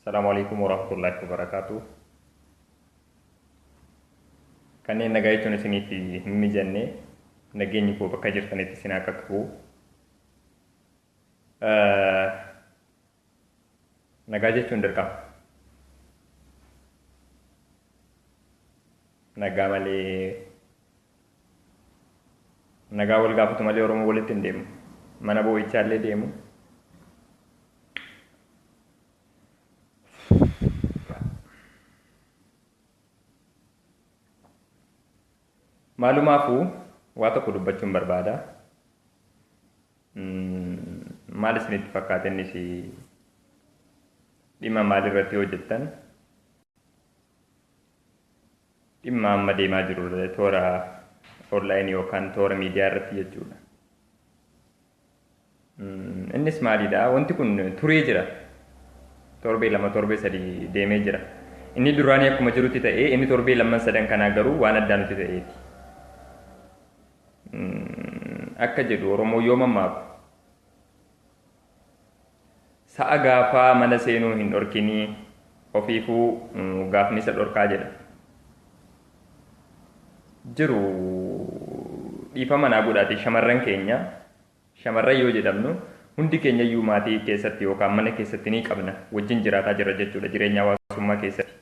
Assalaamu Aleykum Warahmatullaahi Wabarakaatuh Kanneen nagaa jechuun isiniif hin mijanne nageenyi koo bakka jirtanitti isin haa qaqqabu. Nagaa jechuun dirqama. Nagaa malee Nagaa wal gaafatu malee Oromoo walitti hin deemu. Mana boo'ichaa illee deemu. Maalumaafuu waa tokko dubbachuun barbaada. Maal isinitti fakkaata innis dhimma maalirratti hojjettan? Dhimma amma deemaa jiru irra toora online yookaan toora miidiyaa irratti jechuudha. Innis maalidha? Wanti kun turee jira. Torbee lama torbee sadii deemee jira. Inni duraanii akkuma jirutti ta'ee inni torbee lamman sadan kanaa garuu waan addaa nuti ta'eeti. Akka jedhu Oromoo yoo mammaaku Sa'a gaafaa mana seenuu hin dhorkinii ofiifuu gaafnisa dhorkaa jedha jiru dhiifama naa godhaati shamarran keenya shamarran yoo jedhamnu hundi keenya iyyuu maatii keessatti yookaan mana keessatti ni qabna wajjin jiraataa jirra jechuudha jireenya hawaasummaa keessatti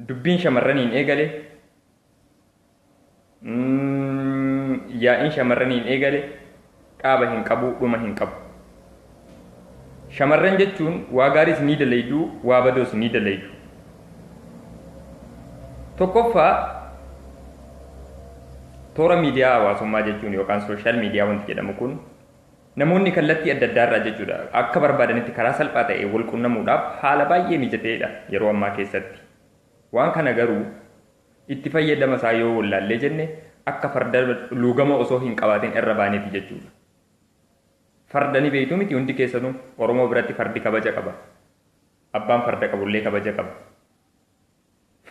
Dubbiin shamarraniin eegale. Yaa'iin shamarraniin eegale dhaaba hin qabu, dhuma hin qabu. Shamarran jechuun waa gaariis ni dalaydu, waa badoos ni dalaydu. Tokkoffaa toora miidiyaa hawaasummaa jechuun yookaan sooshaal miidiyaa wanti jedhamu kun Namoonni kallattii adda addaa irraa jechuudha akka barbaadanitti karaa salphaa ta'een wal qunnamuudhaaf haala baay'ee mijata'eedha yeroo ammaa keessatti. Waan kana garuu itti fayyadama isaa yoo wollaallee jenne akka farda luugama osoo hin qabaatin irra baaneeti jechuudha. Farda ni beektu miti hundi keessanuu? Oromoo biratti fardi kabaja qaba. Abbaan farda qabullee kabaja qaba.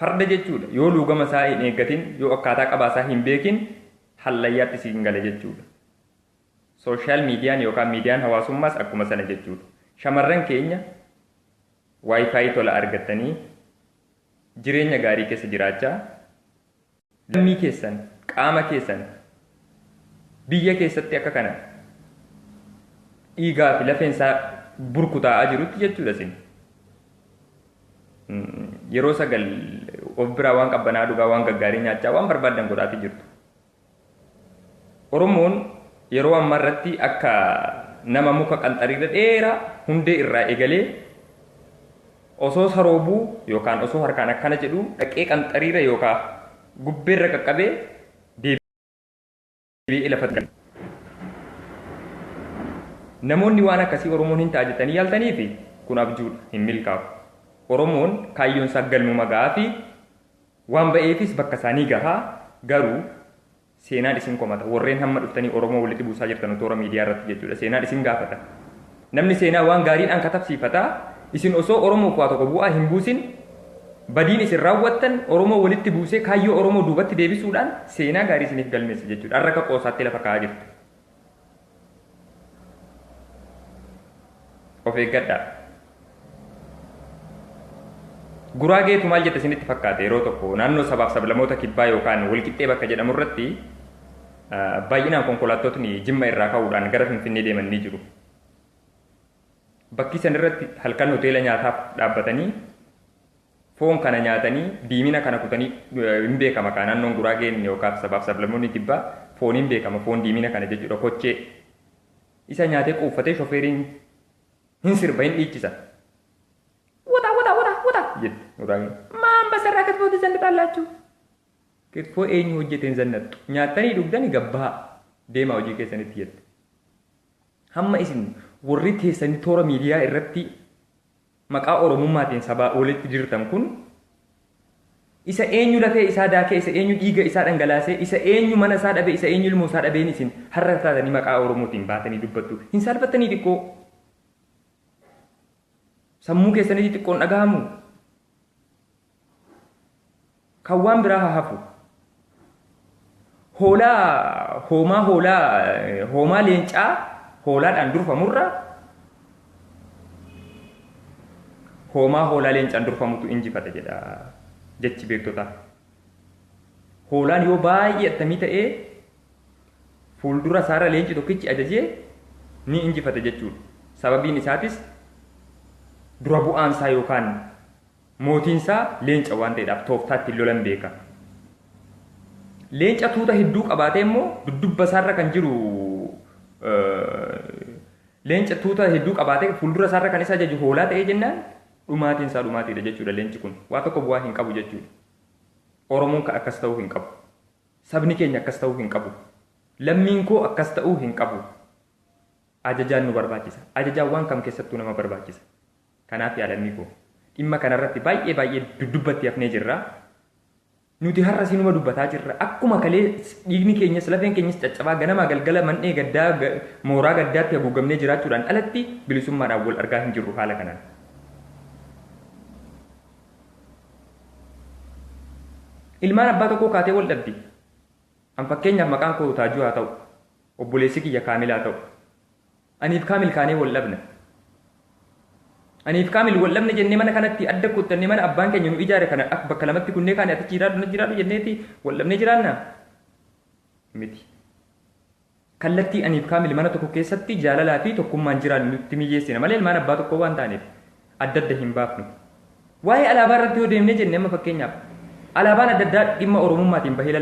Farda jechuudha yoo luugama isaa hin eeggatin, yoo akkaataa qabaa isaa hin beekin hallayyaatti siin gala jechuudha. Social median yookaan miidiyaan hawaasummaas akkuma sana jechuudha. Shamarran keenya WiFi tola argattanii jireenya gaarii keessa jiraachaa lammii keessan, qaama keessan biyya keessatti akka kana dhiigaa fi lafeen isaa burkutaa'aa jirutti jechuudha isin. Yeroo sagal of biraa waan qabbanaa dhugaa waan gaggaarii nyaachaa waan barbaaddan godhaafii jirtu. Oromoon yeroo ammaa irratti akka nama muka qanxariirra dheeraa hundee irraa eegalee osoo saroobuu yookaan osoo harkaan akkana jedhuu dhaqee qanxariira yookaan gubbeerra qaqqabee deebi'ee lafatti gala. Namoonni waan akkasii Oromoon hin ta'a jettanii yaaltaniifi kun abjuudha hin milkaa'u. Oromoon kaayyoon isaa galmuma ga'aa fi Waan ba'eefis bakka isaa ni gaha. Garuu seenaan isin komata. Warreen hamma dhuftanii Oromoo walitti buusaa jirtanu toora miidiyaa irratti jechuudha. Seenaan isin gaafata. Namni seenaa waan gaariidhaan katabsiifata. Isin osoo Oromoof waa tokko bu'aa hin buusin badiin isin raawwattan Oromoo walitti buusee kaayyoo Oromoo duubatti deebisuudhaan seenaa gaarii isiniif galmeessa jechuudha. Har'a akka qoosaatti lafa kaa'aa jirtu. of eeggadhaa guraageetu maal jette isinitti fakkaate yeroo tokko naannoo sabaaf sablamoota kibbaa yookaan walqixxee bakka jedhamu irratti baay'inaan konkolaattotni jimma irraa ka'uudhaan gara finfinnee deeman ni jiru bakkii san irratti halkan hoteela nyaataaf dhaabbatanii Foon kana nyaatanii diimina kana kutanii hin beekama kaa naannoon Guraageen yookaan sabaaf sablammoonni Kibbaa fooniin beekama foon diimina kana jechuudha kochee isa nyaatee quuffatee shofeeriin hin sirba hin dhiichisa. Wota wota wota wota jetti Guraageen. Maan basarraa kitfootti zannaxaan laachuu? Kitfoo eenyu hojjeteen zannaxxu? Nyaattanii dhugdani gabbahaa deemaa hojii keessanitti jette. Hamma isin warri teessanii toora miidiyaa irratti maqaa Oromummaatiin sabaa olitti dirtan kun isa eenyu lafee isaa daakee, isa eenyu dhiiga isaa dhangalaasee, isa eenyu mana isaa dhabe, isa eenyu ilmoo isaa dhabeen isin har'a taatanii maqaa Oromootiin baatanii dubbattu? Hin saalfattanii xiqqoo? Sammuu keessanitti xiqqoo hin dhagahamuu? Kan waan biraa haa hafu. Hoolaa hoomaa hoolaa hoomaa leencaa hoolaadhaan durfamurra hoomaa hoolaa leencaan durfamutu injifata jedha jechi beektotaa. Hoolaan yoo baay'ee attamii ta'ee fuuldura isaarra leenci tokkichi ajajee ni injifata jechuudha. Sababiin isaatis dura bu'aan isaa yookaan Mootiinsaa leenca waan ta'eedhaaf tooftaa ittiin lolan beeka. Leenca tuuta hedduu qabaatee immoo duddubba isaarra kan jiru leenca tuuta hedduu qabaatee fuuldura isaarra kan isa ajaju hoolaa ta'ee jennaan dhumaatiin isaa dhumaatiidha jechuudha leenci kun. Waa tokko bu'aa hin qabu jechuudha. Oromoon kan akkas ta'uu hin qabu. Sabni keenya akkas ta'uu hin qabu. Lammiin koo akkas ta'uu hin qabu. Ajajaan nu barbaachisa. Ajajaan waan kam keessattuu nama barbaachisa. Kanaaf yaa lammii koo dhimma kana irratti baay'ee baay'ee duddubbatti hafnee jirra. Nuti har'as inuma dubbataa jirra. Akkuma kalee dhiigni keenyas lafeen keenyas caccabaa ganamaa galgala man'ee gaddaa mooraa gaddaatti haguugamnee jiraachuudhaan alatti bilisummaadhaan wal argaa hin jirru haala kanaan. Ilmaan abbaa tokkoo kaatee wal dhabdi. An fakkeenyaaf maqaan koo Taajuu haa ta'u. Obboleessi kiyya Kaamil haa ta'u. Aniif kaamil kaanee wal dhabna. Aniif kaamil wal dhabna jennee mana kanatti adda kuttannee mana abbaan keenya nu ijaare kana ak bakka lamatti kunnee kaane ati achi jiraadhu na jiraadhu jenneeti wal dhabnee jiraanna? Miti. Kallattii aniif kaamil mana tokko keessatti jaalalaa fi tokkummaan jiraannu nutti miyyeessina malee ilmaan abbaa tokkoo waan taaneef adda adda hin baafnu. Waa'ee alaabaa irratti yoo deemnee jenne amma fakkeenyaaf alaabaan adda addaa dhimma Oromummaatiin bahee